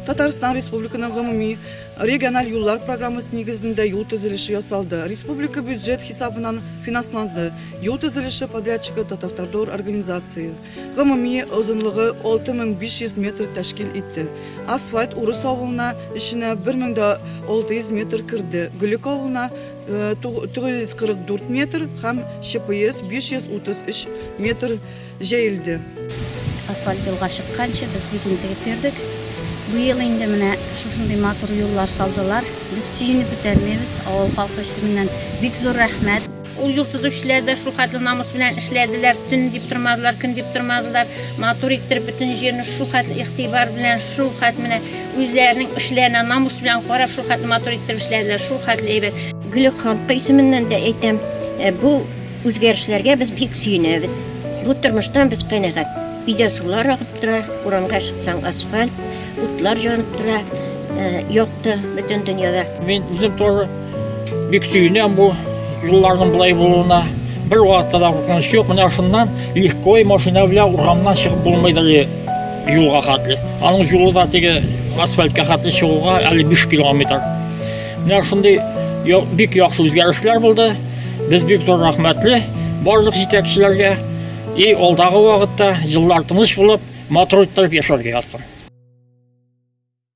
Татарстан Республиканың гомуми региональ юллар программасы нигезендә юл төзелеше ясалды. Республика бюджет хисабынан финансланды. Юл төзелеше подрядчигы Татавтодор организация. Гомуми озынлыгы 6500 метр тәшкил итте. Асфальт Урыс авылына эченә 1600 метр керде. Гөлек авылына 944 э, метр һәм ЧПС 533 метр җәелде. Асфальт юлга чыкканчы без бик интегеп йөрдек. Бу ел инде менә шушындый матур юллар салдылар. Без сөенеп бетәрмибез. Авыл халкы исеменнән бик зур рәхмәт. Ул юл төзүчеләр дә шул хәтле намус белән эшләделәр, төн дип тормадылар, көн дип тормадылар. Матур иттереп бөтен җирне шул хәтле игътибар белән, шул хәтле менә Үзләренең эшләренә намус белән карап, шул хәтле матур итеп эшләделәр, шул хәтле әйбәт. Гөле халкы исеменнән дә әйтәм, э, бу үзгәрешләргә без бик сөенәбез. Бу тормыштан без канәгать. Өйдә сулар агып тора, урамга чыксаң асфальт, утлар җанып тора, э, якты бөтен дөньяда. Мин үзем тоже Бик сөенәм бу юлларның болай булуына. Бер вакытта да куркыныч юк. Менә шуннан легко машина белән урамнан чыгып булмыйдыр юлга хәтле. Аның юлы да теге асфальтка хәтле чыгуга әле 5 километр. Менә шундый бик яхшы үзгәрешләр булды. Без бик зур рәхмәтле барлык җитәкчеләргә. И алдагы вакытта җыллар тыныч булып, матур иттереп яшәргә язсын.